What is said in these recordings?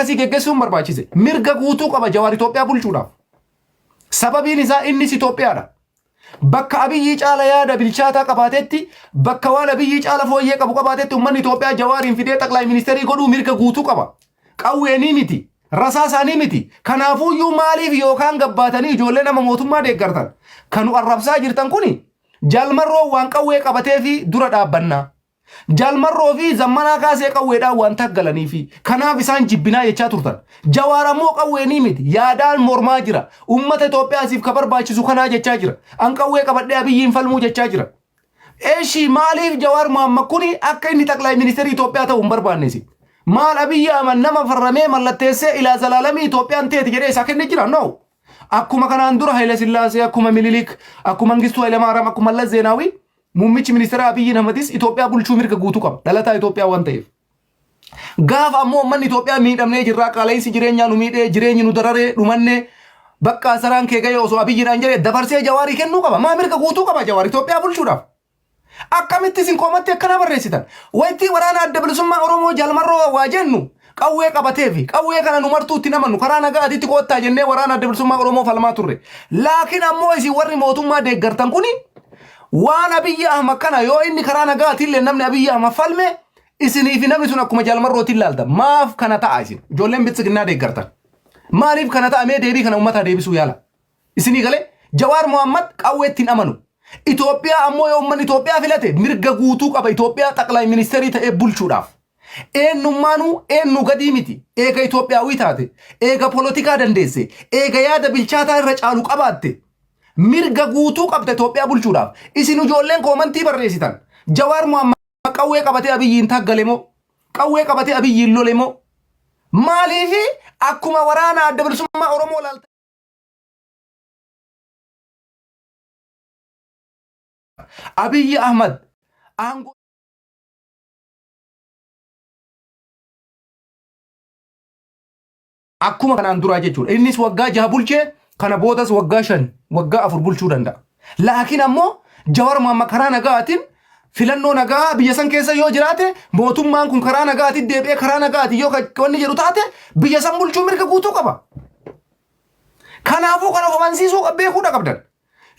akkasii geggessuun barbaachise. Mirga guutuu qaba Jawaar Itoophiyaa bulchuudhaaf. Sababiin isaa innis Itoophiyaadha. Bakka Abiyyii caala yaada bilchaataa qabaatetti, bakka waan Abiyyii caala fooyyee qabu qabaatetti uummanni Itoophiyaa Jawaariin fidee xaqlaay ministeerii godhuu mirga guutuu qaba. Qawweenii miti. Rasaa isaanii miti. Kanaafuuyyuu maaliif yookaan gabbaatanii ijoollee nama mootummaa deeggartan? Kanu arrabsaa jirtan kuni jaalmarroo waan qawwee qabatee fi dura dhaabbannaa. Jaal Marroo fi Zammanaa Kaasee qawweedhaan waan taaggalaniifi. Kanaaf isaan jibbinaa jechaa turtan. Jawaar ammoo qawweenii miti, yaadaan mormaa jira. Ummata Itoophiyaasiif ka barbaachisu kanaa jechaa jira. An qawwee qabadhee Abiyyiin falmuu jechaa jira. Eshi maaliif Jawaar Mohammad kuni akka inni Xaqlaay Ministeerii Itoophiyaa ta'u hin barbaanne isin? Maal Abiyyi Ahmad nama farramee mallatteessee ilaa zalaalamii Itoophiyaan teeti jedhee isaa kenne jira? No! Akkuma kanaan dura Hayila Sillaasee, akkuma Minilik, akkuma Mangistuu Hayilamaaraam, akkuma Mallas Zeenaawii muummichi ministeeraa Abiyyiin Ahmadis Itoophiyaa bulchuu mirga guutuu qaba. Dhalataa Itoophiyaa waan ta'eef. Gaafa ammoo uummanni Itoophiyaa miidhamnee jirraa qaala'insi jireenyaa nu miidhee jireenyi nu dararee dhumannee bakka asaraan kee ga'ee osoo Abiyyiidhaan jedhee dabarsee jawaarii kennuu qaba. Maa mirga guutuu qaba jawaar Itoophiyaa bulchuudhaaf. Akkamitti isin qomatti akkana barreessitan? Waytii waraana adda bilisummaa Oromoo Jaal Marroo waa jennu qawwee qabateefi qawwee kana nu martuu itti namannu karaa nagaa aditti koottaa jennee waraana adda bilisummaa Oromoo falmaa turre. Laakiin ammoo isin warri mootummaa deeggartan kuni waan Abiyyi Ahmad kana yoo inni karaa nagaa atiillee namni Abiyyi Ahmad falme isinii fi namni sun akkuma Jaal Marrootiin laalta. Maaf kana ta'a isin? Ijoolleen biltsiginnaa deeggartan. Maaliif kana ta'a mee deebii kana uummataa deebisuu yaala. Isinii galee? Jawaar Mohammad qawweetti hin amanu. Itoophiyaa ammoo yoo ummanni Itoophiyaa filate mirga guutuu qaba Itoophiyaa xaqlay ministeerii ta'ee bulchuudhaaf. Eennummaanuu eennuu gadii miti. Eega Itoophiyaawii taate, eega polotikaa dandeesse, eega yaada bilchaataa irra caalu qabaatte mirga guutuu qabda Itoophiyaa bulchuudhaaf. Isin ijoolleen koomantii barreessitan Jawaar Mohammad qawwee qabatee Abiyyiin taggale moo? Qawwee qabatee Abiyyiin lole moo? Maaliif akkuma waraana adda bilisummaa Oromoo laaltanii? Abiyyi Ahmad aangoo akkuma kanaan duraa jechuudha. Innis waggaa jaha bulchee kana boodas waggaa shan waggaa afur bulchuu danda'a. Laakiin ammoo Jawar Mohaammed karaa nagaatiin filannoo nagaa biyya san keessa yoo jiraate mootummaan kun karaa nagaatiin deebi'ee karaa nagaatiin yoo wanni jedhu taate biyya san bulchuu mirga guutuu qaba. Kanaafuu kan of amansiisuu beekuudha qabdan.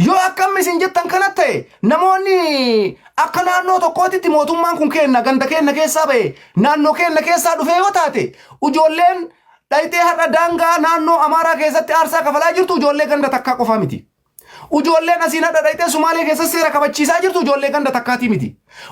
Yoo akkam isin jettan kana ta'e namoonni akka naannoo tokkootitti mootummaan kun keenna ganda keenna keessaa ba'e naannoo keenna keessaa dhufee yoo taate ijoolleen dhayxee har'a daangaa naannoo Amaaraa keessatti aarsaa kafalaa jirtu ijoollee ganda takkaa qofaa miti. Ujoolleen asiin hadha dhayxee Sumaalee keessa seera kabachiisaa jirtu ujoollee ganda takkaatii miti.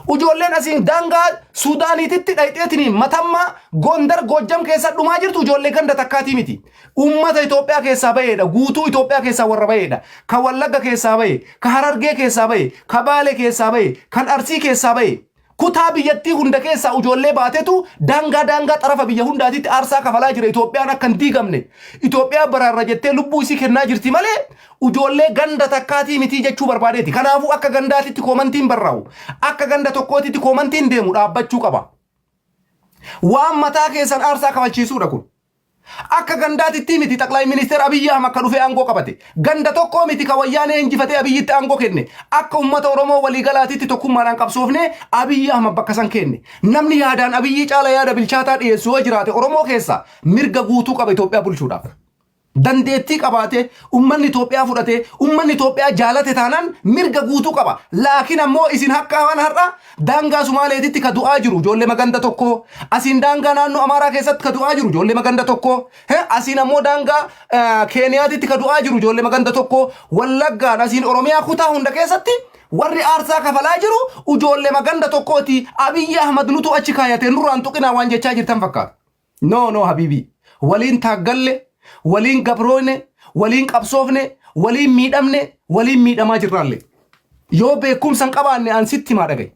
Ujoolleen asiin daangaa Suudaaniititti dhayxeetiniin matammaa Gondar Goojjam keessa dhumaa jirtu ujoollee ganda takkaatii miti. Uummata Itoophiyaa keessaa baheedha. Guutuu Itoophiyaa keessaa warra baheedha. Ka Wallagga keessaa bahe, ka Harargee keessaa bahe, ka Baale keessaa bahe, kan Arsii keessaa bahe. Kutaa biyyattii hunda keessaa ujoollee baatetu daangaa daangaa xarafa biyya hundaatiitti aarsaa kafalaa jira Itoophiyaan akka hin diigamne. Itoophiyaa baraarra jettee lubbuu isii kennaa jirti malee ujoollee ganda takkaatii mitii jechuu barbaadeeti. Kanaafuu akka gandaatitti koomantiin barraa'u, akka ganda tokkootitti koomantiin deemu dhaabbachuu qaba. Waan mataa keessan aarsaa kafalchiisuudha kun. Akka gandaatittii miti Xaqlay Ministeer Abiyyi Ahmad ka dhufee aangoo qabate. Ganda tokkoo miti ka Wayyaanee injifatee Abiyyitti aangoo kenne. Akka ummata Oromoo walii galaatitti tokkummaadhaan qabsoofnee Abiyyi Ahmad bakka san keenne. Namni yaadaan Abiyyii caala yaada bilchaataa dhiyeessu yoo jiraate Oromoo keessaa mirga guutuu qaba Itoophiyaa bulchuudhaaf. Dandeettii qabaatee, ummanni Itoophiyaa fudhatee, ummanni Itoophiyaa jaalate taanaan mirga guutuu qaba. Laakiin ammoo isin hakkaa waan har'a Daangaa Sumaaleetitti ka du'aa jiru ijoollema ganda tokko, asiin daangaa naannoo Amaaraa keessatti ka du'aa jiru ijoollema ganda tokko, he, asiin ammoo daangaa eh, Keeniyaatitti ka du'aa jiru ijoollema ganda tokko, Wallaggaan asiin Oromiyaa kutaa hunda keessatti warri aarsaa kafalaa jiru ijoollema ganda tokkooti. Abiyyi Ahmad nutu achi kaayate nurraan tuqinaa waan jechaa jirtan fakkaata. No no habiibii waliin taaggalle waliin gabrooyne waliin qabsoofne waliin miidhamne waliin miidhamaa jirraalle yoo beekumsa hin qabaanne an sitti himaa dhaga'i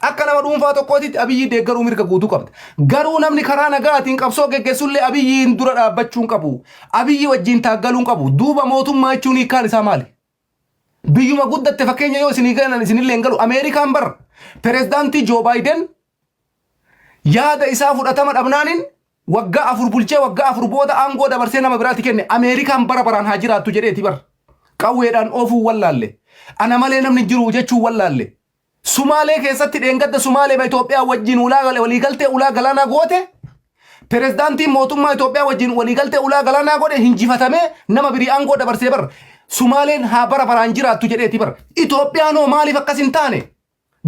akka nama dhuunfaa tokkootitti abiyyii deeggaruu mirga guutuu qabda garuu namni karaa nagaatiin qabsoo geggessullee abiyyiin dura dhaabbachuu hin qabu abiyyi wajjiin taaggaluu hin qabu duuba mootummaa jechuun hiikkaan isaa maali Biyyuma guddatte fakkeenya yoo isinii galan isinillee hin galu. Ameerikaan bar pirezidaantii Joo Baayiden yaada isaa fudhatama dhabnaaniin waggaa afur bulchee waggaa afur booda aangoo dabarsee nama biraatti kenne Ameerikaan bara baraan haa jiraattu jedheeti bar. Qawweedhaan oofuu wallaalle. Ana malee namni hin jiru jechuu wallaalle. Sumaalee keessatti dheengadda Sumaaleema Itoophiyaa wajjin ulaa waliigaltee ulaa galaanaa goote pirezidaantiin mootummaa Itoophiyaa wajjin waliigaltee ulaa galaanaa godhe hinjifatamee nama birii aangoo dabarsee bar Sumaaleen haa bara baraan jiraattu jedheeti bar Itoophiyaan hoo maaliif akkas hin taane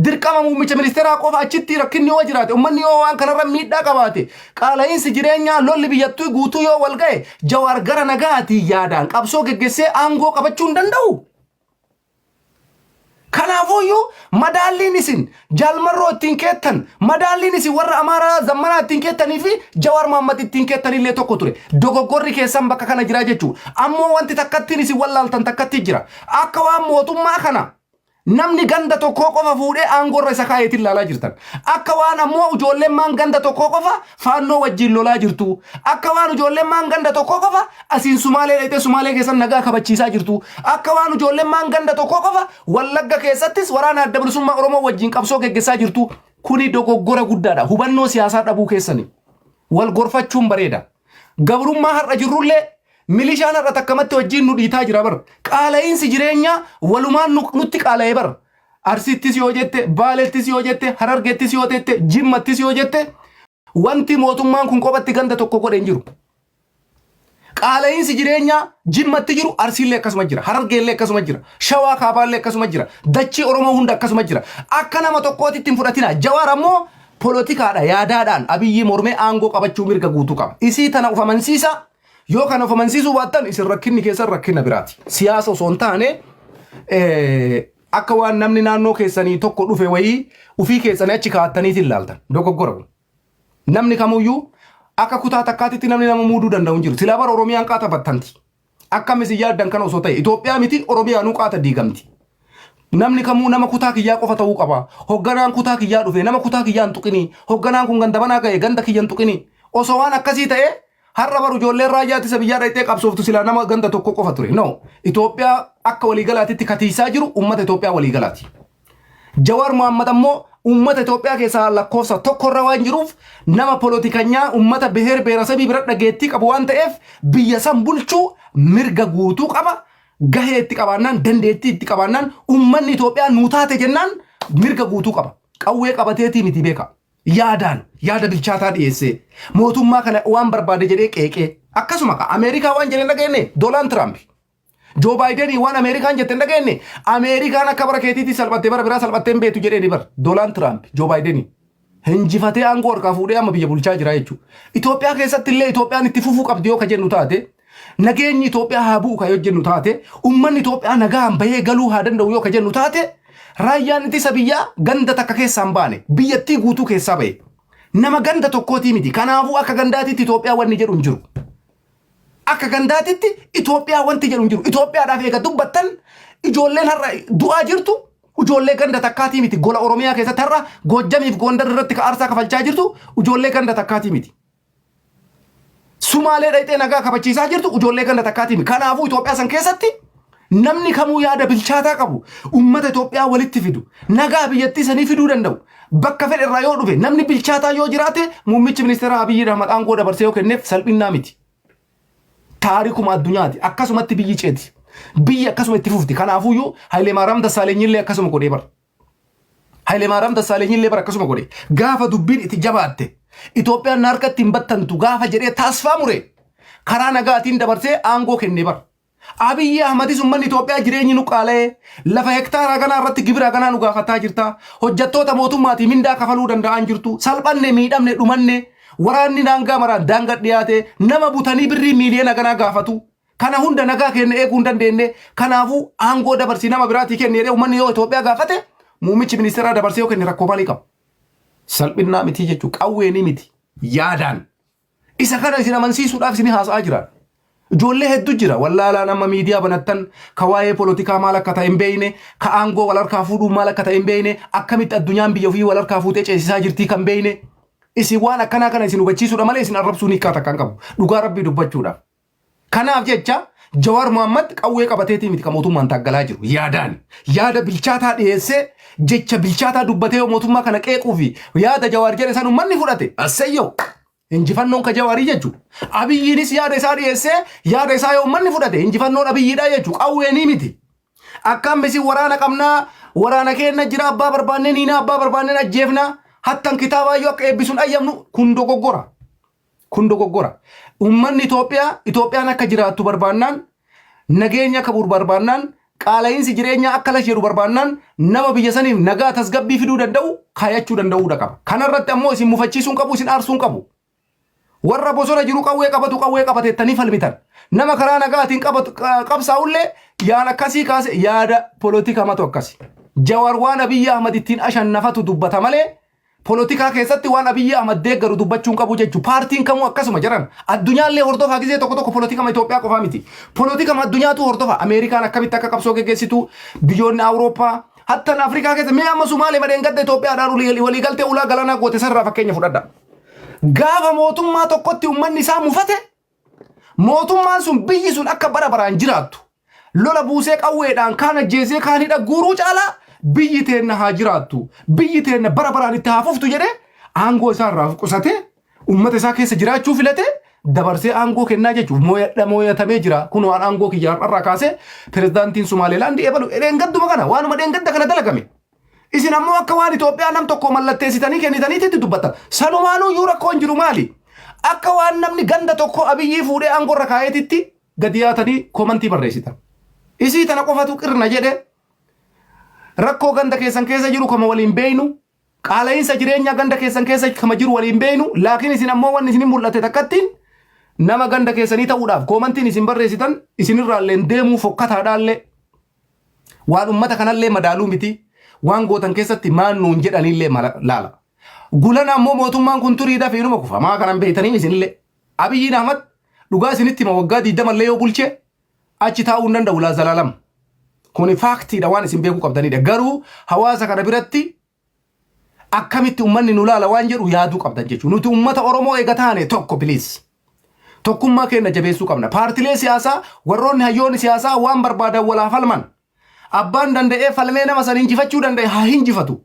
dirqama muummicha ministeeraa qofa achitti rakkinni yoo jiraate ummanni yoo waan kanarra miidhaa qabaate qaala'iinsi jireenyaa lolli biyyattuu guutuu yoo wal ga'e jawaar gara nagaatii yaadaan qabsoo geggessee aangoo qabachuu hin danda'u. Kanaafuu iyyuu madaalliin isin Jaal Marroo ittiin keettan, madaalliin isin warra Amaaraa Zammanaa ittiin keettanii fi Jawaar Mohammed ittiin keettan illee tokko ture. Dogoggorri keessan bakka kana jira jechuu. Ammoo wanti takkattiin isin wallaaltan takkatti jira. Akka waan mootummaa kana namni ganda tokkoo qofa fuudhee aangoo irra isa kaa'eetti ilaalaa jirtan. Akka waan ammoo ijoollemmaan ganda tokkoo qofa faannoo wajjiin lolaa jirtuu akka waan ujoollemmaan ganda tokkoo qofa asiin sumaalee dhayxee sumaalee keessan nagaa kabachiisaa jirtuu akka waan ujoollemmaan ganda tokkoo qofa wallagga keessattis waraana adda bilisummaa oromoo wajjiin qabsoo geggessaa jirtuu kuni dogoggora guddaadha hubannoo siyaasaa dhabuu keessani wal gorfachuun bareeda gabrummaa har'a jirrullee milishaan har'a takkamatti wajjiin nu dhiitaa jira bar qaala'iinsi jireenyaa walumaan nu- nutti qaala'ee bar Arsiittis yoo jette, Baalettis yoo jette, Harargettis yoo jette, Jimmattis yoo jette wanti mootummaan kun kophatti ganda tokko godhe hin jiru. Qaala'iinsi jireenyaa Jimmatti jiru Arsiillee akkasuma jira, Harargeellee akkasuma jira, Shawaa Kaabaallee akkasuma jira, dachii Oromoo hunda akkasuma jira. Akka nama tokkootti ittiin fudhatina. Jawaar ammoo polotikaadha yaadaadhaan Abiyyii mormee aangoo qabachuu mirga guutuu qaba. Isii tana of amansiisa Yoo kana of amansiisuu baattan isin rakkinni keessan rakkina biraati. Siyaasa osoo hin taane eh, akka waan namni naannoo keessanii tokko dhufe wayii ufii keessanii achi kaa'attaniiti ilaaltan. Dogoggora kun. Namni kamuyyuu akka kutaa takkaatitti namni nama muuduu danda'u hin jiru. Silaa bara Oromiyaan qaata battanti. Akkam isin yaaddan kana osoo ta'e Itoophiyaa miti Oromiyaanuu qaata diigamti. Namni kamuu nama kutaa kiyyaa qofa ta'uu qaba. Hogganaan kutaa kiyyaa dhufe nama kutaa kiyyaa hin tuqinii. Hogganaan kun ganda banaa ga'e ganda kiyya hin tuqinii. Osoo waan akkasii ta'e Har'a baru ijoolleen raayyaa ittisa biyyaa dhayxee qabsooftu silaa nama ganda tokko qofa ture. No. Itoophiyaa akka waliigalaatitti katiisaa jiru uummata Itoophiyaa waliigalaati. Jawaar Mohaammed ammoo uummata Itoophiyaa keessaa lakkoofsa tokko irra waan jiruuf nama polotikanyaa uummata beheer beerasabii bira dhageettii qabu waan ta'eef biyya san bulchuu mirga guutuu qaba. Gahee itti qabaannaan dandeettii itti qabaannaan uummanni Itoophiyaa nuu taate jennaan mirga guutuu qaba. Qawwee qabateetii miti beeka. yaadaan yaada bilchaataa dhiyeessee mootummaa kana waan barbaade jedhee qeeqee akkasuma ka Ameerikaa waan jedhe hin dhageenye Doolaan Tiraamp Joo Baayidenii waan Ameerikaan jette hin dhageenye Ameerikaan akka bara keetiitii salphattee bara biraa salphattee hin beektu jedhee ni bara Doolaan Tiraamp Joo Baayidenii hinjifatee aangoo harkaa fuudhee amma biyya bulchaa jira jechuudha. Itoophiyaa keessatti illee Itoophiyaan itti fufuu qabdi yoo ka jennu taate Nageenyi Itoophiyaa haa bu'u kan yoo jennu taate, uummanni Itoophiyaa nagaan bahee galuu haa danda'u yoo kan jennu taate, raayyaan ittisa biyyaa ganda takka keessaa hin baane, biyyattii guutuu keessaa bahe. Nama ganda tokkootii miti. Kanaafuu akka gandaatitti Itoophiyaa wanni jedhu hin jiru. Akka gandaatitti Itoophiyaa wanti jedhu hin jiru. Itoophiyaadhaaf eega dubbattan ijoolleen har'a du'aa jirtu ijoollee ganda takkaatii miti. Gola Oromiyaa keessatti har'a Goojjamiif Goondar irratti ka aarsaa kafalchaa jirtu ijoollee ganda takkaatii miti. Sumaalee dhayxee nagaa kabachiisaa jirtu ijoollee ganda takkaatiimi. Kanaafuu Itoophiyaa san keessatti namni kamuu yaada bilchaataa qabu uummata Itoophiyaa walitti fidu nagaa biyyattii sanii fiduu danda'u bakka fedhe irraa yoo dhufe namni bilchaataa yoo jiraate muummichi ministeeraa Abiyyi Ahmad aangoo dabarsee yoo kenneef salphinnaa miti. Taarikuma addunyaati akkasumatti biyyi ceeti. Biyyi akkasuma itti fufti. Kanaafuyyuu Hayilee Maaraam Dassaaleenyillee akkasuma godhee bara. Hayilemaariyaam Dassaaleenyillee bara akkasuma godhe. Gaafa dubbiin itti jabaatte Itoophiyaan na harkatti hin battantu gaafa jedhee taasfaa mure karaa nagaatiin dabarsee aangoo kenne bar. Abiyyi Ahmadis ummanni Itoophiyaa jireenyi nu qaala'ee lafa hektaaraa haganaa irratti gibira haganaa nu gaafataa jirta. Hojjattoota mootummaatii mindaa kafaluu danda'aan jirtu. Salphanne miidhamne dhumanne waraanni daangaa maraan daanga dhiyaate nama butanii birrii miiliyoona haganaa gaafatu. Kana hunda nagaa keenya eeguu hin dandeenne. Kanaafuu aangoo dabarsii nama biraatii kenni jedhee uummanni yoo Itoophiyaa gaafate muummichi ministeeraa dabarsee yoo kenne rakkoo maalii qaba? Salphinnaa mitii jechuu qawweenii miti yaadaan. Isa kana isin amansiisuudhaaf isin haasa'aa jiraan. Ijoollee hedduu jira wallaalaan amma miidiyaa banattan ka waa'ee polotikaa maal akka ta'e hin beeyne ka aangoo wal harkaa fuudhuu maal akka ta'e hin beeyne akkamitti addunyaan biyya ofii wal harkaa fuutee ceesisaa jirtii kan beeyne isin waan akkanaa kana isin hubachiisuudha malee isin arrabsuu hiikkaa takka hin qabu dhugaa rabbii dubbachuudhaaf. Kanaaf jecha Jawaar Mohammad qawwee qabateetii miti kan mootummaan taaggalaa jiru. Yaadaani. Yaada bilchaataa dhiyeessee jecha bilchaataa dubbatee yoo mootummaa kana qeequu fi yaada Jawaar jedhe san ummanni fudhate. Asseyyoo! Injifannoon ka Jawaarii jechu. Abiyyiinis yaada isaa dhiyeessee yaada isaa yoo ummanni fudhate injifannoon Abiyyiidha jechu. Qawweenii miti. Akkaam isin waraana qabnaa waraana keenna jira abbaa barbaanneen hiinaa abbaa barbaanneen ajjeefnaa hattan kitaabaayyuu akka eebbisuun ayyamnu kun dogoggora. Kun dogoggora. Uummanni Itoophiyaa Itoophiyaan akka jiraattu barbaannaan, nageenyi akka bu'u barbaannaan, qaala'iinsi jireenyaa akka lash jedhu barbaannaan nama biyya saniif nagaa tasgabbii fiduu danda'u kaayachuu danda'uudha qaba. Kanarratti ammoo isin mufachiisuu hin qabu, isin aarsuu hin qabu. Warra bosona jiru qawwee qabatu qawwee qabate jettanii falmitan. Nama karaa nagaatiin qabatu qa- qabsaa'ullee yaada akkasii kaase yaada polotikamatu akkasi. Jawar waan Abiyyi Ahmad ittiin ashannafatu dubbata malee Polotikaa keessatti waan Abiyyi Ahmad deeggaru dubbachuu hin qabu jechu. Paartiin kamuu akkasuma jaran. Addunyaallee hordofaa gizee tokko tokko polotikama Itoophiyaa qofaa miti. Polotikama addunyaatu hordofa. Ameerikaan akkamitti akka qabsoo geggeessitu, biyyoonni Awurooppaa, hattan Afrikaa keessa mee amma Sumaalee madheen gadda Itoophiyaadhaan walii- waliigaltee ulaa galaanaa goote sanarraa fakkeenya fudhadha. Gaafa mootummaa tokkotti ummanni isaa mufate Mootummaan sun biyyi sun akka bara baraan jiraattu, lola buusee qawweedhaan kaan ajjeesee kaan hidha guuruu caalaa biyyi teenna haa jiraattu, biyyi teenna bara baraan itti haa fuftu jedhee aangoo isaa irraa of qusatee uummata isaa keessa jiraachuu filatee dabarsee aangoo kennaa jechuuf mooyadha mooyatamee jira kunoo an aangoo kiyya har'arraa kaasee pirezidaantiin Sumaaleelaandii ebalu dheengadduma kana waanuma dheengadda kana dalagame. Isin ammoo akka waan Itoophiyaa nam tokko mallatteessitanii kennitaniitti itti dubbattan. Sanumaanuu iyyuu rakkoon jiru maali? Akka waan namni ganda tokko abiyyii fuudhee aangoo irra kaa'eetitti gadi yaatanii koomantii barreessitan. Isii tana qofatu qirna jedhe rakkoo ganda keessan keessa jiru kama waliin beeynu qaala'iinsa jireenyaa ganda keessan keessa kama jiru waliin beeynu laakiin isin ammoo wanni isin mul'ate takkattiin nama ganda keessanii ta'uudhaaf koomantiin isin barreessitan isinirraalleen deemuu fokkataadhaallee Waan ummata kanallee madaaluu miti, waan gootan keessatti maan nuun jedhaniillee mala- laala. Gulana ammoo mootummaan kun turii dafee inuma kufa. Maa kana hin beeytaniim isinillee. Abiyyiin Ahmad dhugaa isinitti hima waggaa 20 illee yoo bulche achi taa'uu hin danda'u ilaa zalaalam. Kuni faaktiidha waan isin beekuu qabdanidha. Garuu hawaasa kana biratti akkamitti ummanni nu laala waan jedhu yaaduu qabdan jechuudha. Nuti ummata Oromoo eega taane tokko please. Tokkummaa keenya jabeessuu qabna. Paartilee siyaasaa warroonni hayyoonni siyaasaa waan barbaadan walaa falman. Abbaan danda'ee falmee nama san injifachuu danda'e haa hinjifatu.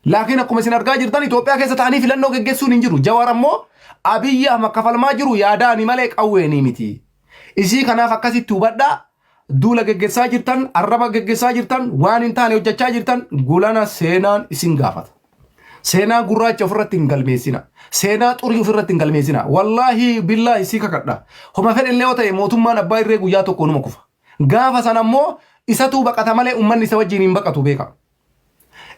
Laakiin akkuma isin argaa jirtan Itoophiyaa keessa ta'anii filannoo geggeessuun hin jiru. Jawaar ammoo Abiyyi Ahmad kafalmaa jiru yaadaani malee qawweeni miti. Isii kanaaf akkasitti hubadhaa Duula geggessaa jirtan, arraba geggessaa jirtan, waan hin taane hojjechaa jirtan gulana seenaan isin gaafata. Seenaa gurraacha ofirratti hin galmeessina. Seenaa xurii ofirratti hin galmeessina. Wallaahi billaahi si kakadha. Homa fedhe illee yoo ta'e mootummaan abbaa irree guyyaa tokko numa kufa. Gaafa sana immoo isatuu baqata malee ummanni isa wajjin hin baqatu beeka.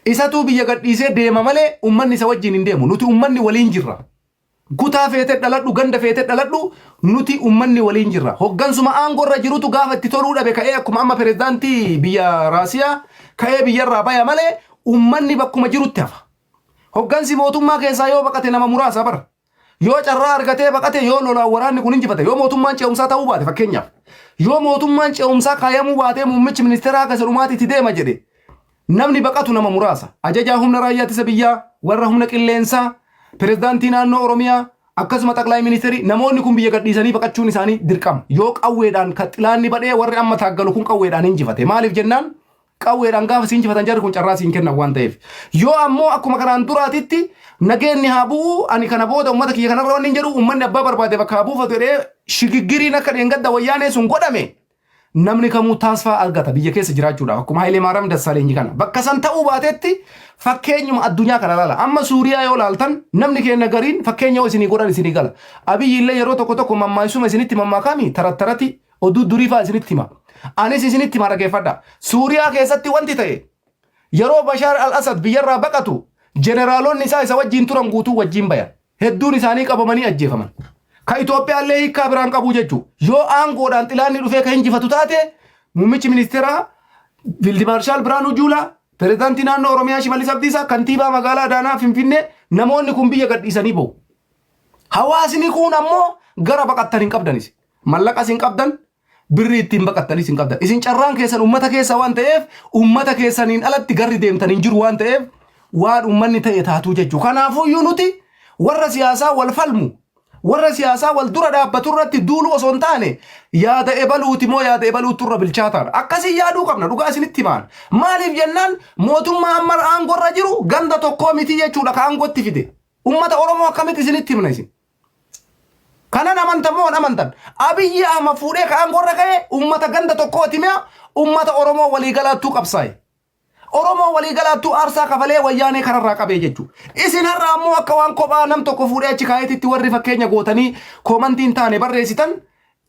Isatuu biyya gadhiisee deema malee ummanni isa wajjin hin deemu. Nuti ummanni waliin jirra. Kutaa feete dhaladhu, ganda feete dhaladhu nuti ummanni waliin jirra. Hoggansuma aangorra jirutu gaafa itti toluu dhabe ka'ee akkuma amma pirezidaantii biyya Raasiyaa ka'ee biyyarraa baya malee ummanni bakkuma jirutti hafa. Hoggansi mootummaa keessaa yoo baqate nama muraasa bar. Yoo carraa argatee baqate yoo lolaan waraanni kun injifate yoo mootummaan ce'umsaa ta'uu baate fakkeenyaaf yoo mootummaan ce'umsaa kaayamuu baatee muummichi ministeeraa akka isa dhumaati itti deema jedhe Namni baqatu nama muraasa. Ajajaa Humna Raayyaa Ittisa Biyyaa, warra Humna Qilleensaa, Pirezidaantii Naannoo Oromiyaa, akkasuma Xaqlaay Ministeerii, namoonni kun biyya gadhiisanii baqachuun isaanii dirqama. Yoo qawweedhaan ka xilaanni badhee warri amma taaggalu kun qawweedhaan injifate. Maaliif jennaan qawweedhaan gaafa si injifatan jarri kun carraa si hin kennan waan ta'eef. Yoo ammoo akkuma kanaan duraatitti nageenni haa bu'u ani kana booda uummata kiyya kanarra wanni hin jedhu uummanni abbaa barbaade bakka haa buufatu jedhee shigiggiriin akka dheengadda wayyaanee sun godhame Namni kamuu taasfaa argata biyya keessa jiraachuudhaaf akkuma Hayilee Maaraam Dassaaleenyi kana. Bakka san ta'uu baatetti fakkeenyuma addunyaa kana laala. Amma Suuriyaa yoo laaltan namni keenya gariin fakkeenya yoo isinii godhan isinii gala. Abiyyi illee yeroo tokko tokko mammaaksuma isinitti mammaakaami tarattarati oduu durii fa'aa isinitti hima. Anis isinitti hima dhageeffadha. Suuriyaa keessatti wanti ta'e yeroo Bashaar al-Asad biyyarraa baqatu jeneraalonni isaa isa wajjiin turan guutuu wajjiin bayan. hedduun isaanii qabamanii ajjeefaman. Ka Itoophiyaallee hiikkaa biraan qabuu jechuu yoo aangoodhaan xilaanni dhufee ka hinjifatu taate muummichi ministeeraa Fiildi Maarshaal Biraanuu Juulaa, pirezidaantii naannoo Oromiyaa Shimallis Abdiisaa, kantiibaa magaalaa Adaanaa Finfinnee namoonni kun biyya gadhiisanii bahu. Hawaasni kun ammoo gara baqattan hin qabdanis. Mallaqas hin qabdan, Birrii ittiin baqattanis hin qabdan. Isin carraan keessan ummata keessa waan ta'eef ummata keessaniin alatti garri deemtan hin jiru waan ta'eef waan ummanni ta'e taatuu jechuu. Kanaafuyyuu nuti warra siyaasaa wal falmu warra siyaasaa wal dura dhaabbatu irratti duuluu osoo hin taane yaada ebaluuti moo yaada ebaluutu irra bilchaataan akkasii yaaduu qabna dhugaa isinitti himaan maaliif jennaan mootummaa amma aangorra jiru ganda tokkoo mitii jechuudha ka aangootti fide ummata oromoo akkamitti isinitti himna isin Kanan amantan moo hin amantan? Abiyyi Ahmad fuudhee ka aangoo irra ka'e ummata ganda tokkooti mi'a ummata Oromoo walii galaattuu qabsaa'e. Oromoo walii galaattuu aarsaa kafalee wayyaanee kararraa qabee jechuu. Isin har'a ammoo akka waan kophaa nam tokko fuudhee achi kaa'eetitti warri fakkeenya gootanii koomantii hin taane barreessitan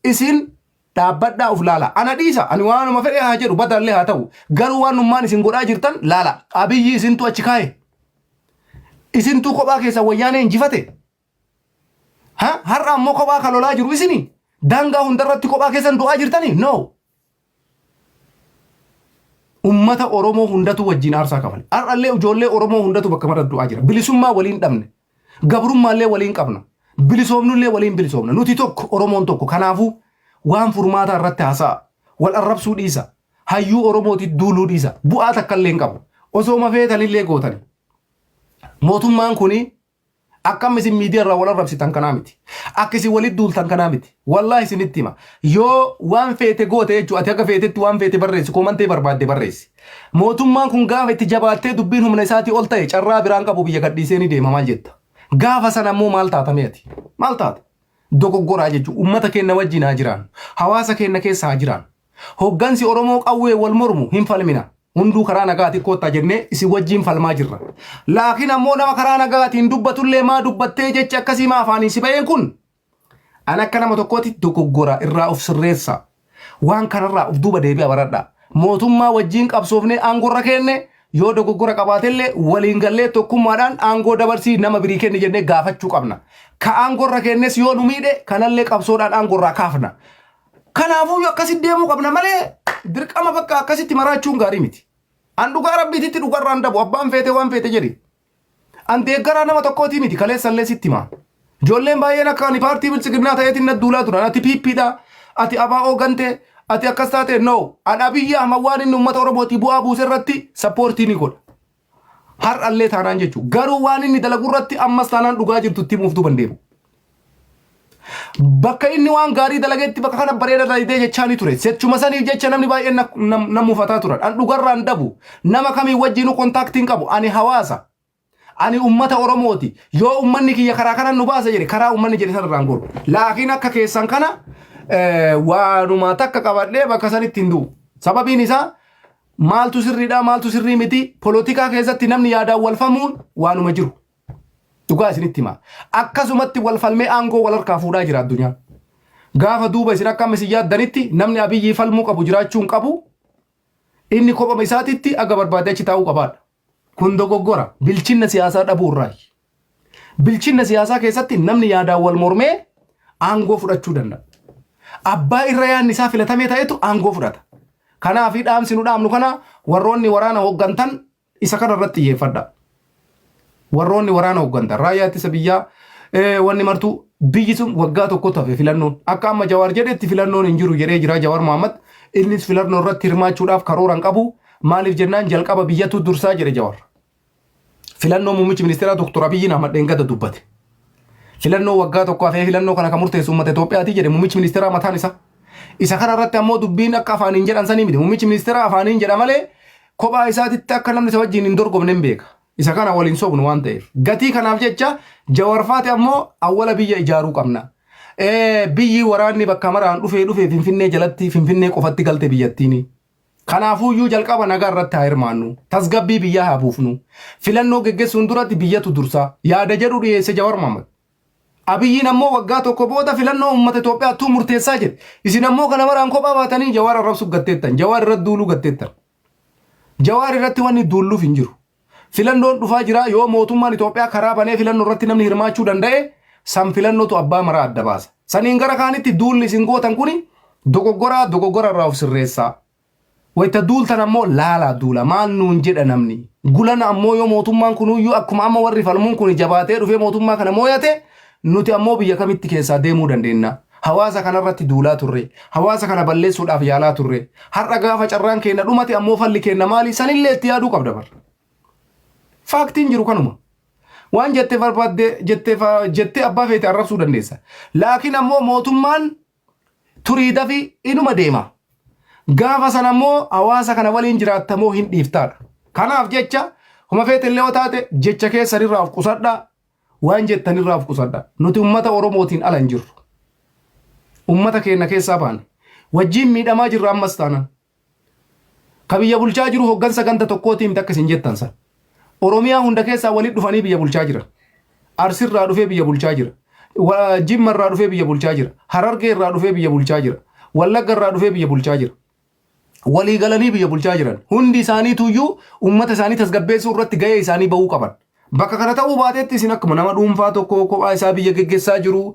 isin Dhaabbadhaa of laalaa. Ana dhiisa, ani waanuma fedhe haa jedhu, badaallee haa ta'u. Garuu waanummaan isin godhaa jirtan laalaa. Abiyyi isintu achi kaa'e. Isintuu kophaa keessan wayyaanee injifate. Ha? Har'a ammoo kophaa kan lolaa jiru isini? Daangaa hundarratti kophaa keessan du'aa jirtanii? No. Ummata Oromoo hundatu wajjin aarsaa kafale. Har'allee ijoollee Oromoo hundatu bakka mara du'aa jira. Bilisummaa waliin dhabne. Gabrummaallee waliin qabna. Bilisoomnullee waliin bilisoomna. Nuti tokko, Oromoon tokko. Kanaafuu waan furmaataa irratti haasa'aa. Wal arrabsuu dhiisaa. Hayyuu Oromootitti duuluu dhiisaa. Bu'aa takkallee hin qabu. Osooma feetanillee gootani. Mootummaan kuni akka amma isin miidiyaa irraa wal arrabsitan kanaa miti. Akka isin walitti duultan kanaa miti. Wallaahi isinitti hima. Yoo waan feete goote jechuudha. Ati akka feetetti waan feete barreessi. Koomantee barbaadde barreessi. Mootummaan kun gaafa itti jabaattee dubbiin humna isaatii ol ta'e carraa biraa hin qabu biyya gadhiisee ni deema maal jetta? Gaafa sana ammoo maal taata mee ati? Maal taata? Dogoggoraa jechuun uummata keenna wajjiin haa jiraannu. Hawaasa keenna keessa haa jiraannu. Hoggansi Oromoo qawween wal mormu hin falmina. Hunduu karaa nagaatiin koottaa jennee isin wajjiin falmaa jirra. Laakiin ammoo nama karaa nagaatiin dubbatullee maa dubbattee jechi akkasii maa afaaniin si ba'een kun Ani akka nama tokkootitti dogoggora irraa of sirreessaa. Waan kanarraa of duuba deebi'a baradhaa. Mootummaa wajjiin qabsoofnee aangorra keenne yoo dogoggora qabaatellee waliin gallee tokkummaadhaan aangoo dabarsii nama birii kenni jennee gaafachuu qabna. Ka aangorra keennes yoo nu miidhe kanallee qabsoodhaan aangorraa kaafna. Kanaafuu akkasitti deemuu qabna malee dirqama bakka akkasitti maraachuun gaarii miti. An dhugaa rabbiititti dhugarraan dabu abbaan feete waan feete jedhi. An deeggaraa nama tokkootii miti kaleessa illee sitti himaa. Ijoolleen baay'een akka ani paartii biltsiginnaa ta'eetiin na duulaa turan. Ati piippiidha, ati abaa'oo gantee, ati akkas taatee no. An Abiyyi Ahmad waan inni uummata Oromootii bu'aa buuse irratti sappoortii ni godha. Har'allee taanaan jechuudha. Garuu waan inni dalagu irratti ammas taanaan dhugaa jirtu itti himuuf duuban deemu. Bakka inni waan gaarii dalagetti bakka kana bareeda dalagdee jechaa ni ture. Sechuma saniif jecha namni baay'een na- nam- nan mufataa turan. An dhugarraan dabu. Nama kamii wajjinuu kontaaktiin qabu. Ani hawaasa. Ani ummata Oromooti. Yoo ummanni kiyya karaa kanan nu baasa jedhe karaa ummanni jedhe sanarraan goru. Laakiin akka keessan kana eh, waanuma takka qabadhee bakka sanitti hin du'u. Sababiin isaa maaltu sirriidha maaltu sirrii miti polotikaa keessatti namni yaadaan walfamuun waanuma jiru. Dhugaa isinitti hima. Akkasumatti wal falmee aangoo wal harkaa fuudhaa jira addunyaan. Gaafa duuba isin akka amma isin yaaddanitti namni Abiyyii falmuu qabu jiraachuu hin qabu. Inni kophama isaatitti aga barbaade achi taa'uu qabaadha. Kun dogoggora. Bilchinna siyaasaa dhabuu irraayi. Bilchinna siyaasaa keessatti namni yaadaan wal mormee aangoo fudhachuu danda'a. Abbaa irra yaadni isaa filatamee ta'etu aangoo fudhata. Kanaaf dhaamsi nu dhaamnu kana warroonni waraana hooggantan Isa kana irratti xiyyeeffadhaa. Warroonni waraana hooggantan raayyaa ittisa biyyaa eh, wanni martuu biyyi sun waggaa tokko tafe filannoon akka amma Jawaar jedhetti filannoon hin jiru jedhee jira Jawaar Mohaammed innis filannoo irratti hirmaachuudhaaf karoora hin qabu maaliif jennaan jalqaba biyyatu dursaa jedhe Jawaar. Filannoo muummichi ministeeraa Dr. Abiyyiin Ahmad Dheengada dubbate. Filannoo waggaa tokko hafee filannoo kana kan murteessu uummata Itoophiyaati jedhe muummichi ministeeraa mataan isaa. Isa kana irratti ammoo dubbiin akka afaaniin jedhan sanii miti. Muummichi ministeeraa afaaniin jedha malee kophaa isaatitti akka namni isa wajjin hin dorgomne hin beeka. Isa kana waliin sobnu waan ta'eef. Gatii kanaaf jecha jawarfaati ammoo awwala biyya ijaaruu qabna. Eh, Biyyi waraanni bakka maraan dhufee dhufee Finfinnee jalatti Finfinnee qofatti galte biyyattiini. Kanaafuuyyuu jalqaba nagaa irratti haa hirmaannu. Tasgabbii biyyaa haa buufnu. Filannoo geggessuun duratti biyyatu dursa. Yaada jedhu dhiyeesse Jawar Mohammed. Abiyyiin ammoo waggaa tokko booda filannoo uummata Itoophiyaattuu murteessaa jedhe. Isin ammoo kana maraan kophaa baatanii Jawaar arrabsuuf gatteettan. Jawaar irratti duuluu gatteettan. Jawaar irratti wanni duulluuf hin jiru. Filannoon dhufaa jira yoo mootummaan Itoophiyaa karaa banee filannoo irratti namni hirmaachuu danda'e san filannootu abbaa maraa adda baasa. Saniin gara kaanitti duulli isin gootan kuni dogoggoraa dogoggora irraa of sirreessaa. Wayta duultan ammoo laalaa duula. Maal nuun jedha namni? Gulana ammoo yoo mootummaan kunuyyuu akkuma amma warri falmuun kuni jabaatee dhufee mootummaa kana mooyate, nuti ammoo biyya kamitti keessaa deemuu dandeenna? Hawaasa kanarratti duulaa turre. Hawaasa kana balleessuudhaaf yaalaa turre. Har'a gaafa carraan keenna dhumate ammoo falli keenna maali? Sanillee itti yaaduu qabda bar. Faaktiin jiru kanuma. Waan jette barbaadde jettee fa- jettee abbaa feete arrabsuu dandeessa. Laakiin ammoo mootummaan Turii dafi inuma deema. Gaafa sana immoo hawaasa kana waliin jiraatta moo hin dhiiftaadha. Kanaaf jecha homa feete illee yoo taate jecha keessan irraa of qusadhaa waan jettan irraa of qusadhaa. Nuti ummata Oromootiin ala hin jirru. Ummata keenya keessaa baane. Wajjiin miidhamaa jirra ammas taanan. Ka biyya bulchaa jiru hoggansa ganda tokkootii miti akka isin jettan san. Oromiyaa hunda keessaa walitti dhufanii biyya bulchaa jiran. Arsirraa dhufee biyya bulchaa jira. Wa- Jimma irraa dhufee biyya bulchaa jira. Harargee irraa dhufee biyya bulchaa jira. Wallagga irraa dhufee biyya bulchaa jira. Walii galanii biyya bulchaa jiran. Hundi isaaniitu iyyuu uummata isaanii tasgabbeessuu irratti gahee isaanii bahuu qaban. Bakka kana ta'uu baateetti isin akkuma nama dhuunfaa tokko kophaa isaa biyya geggessaa jiru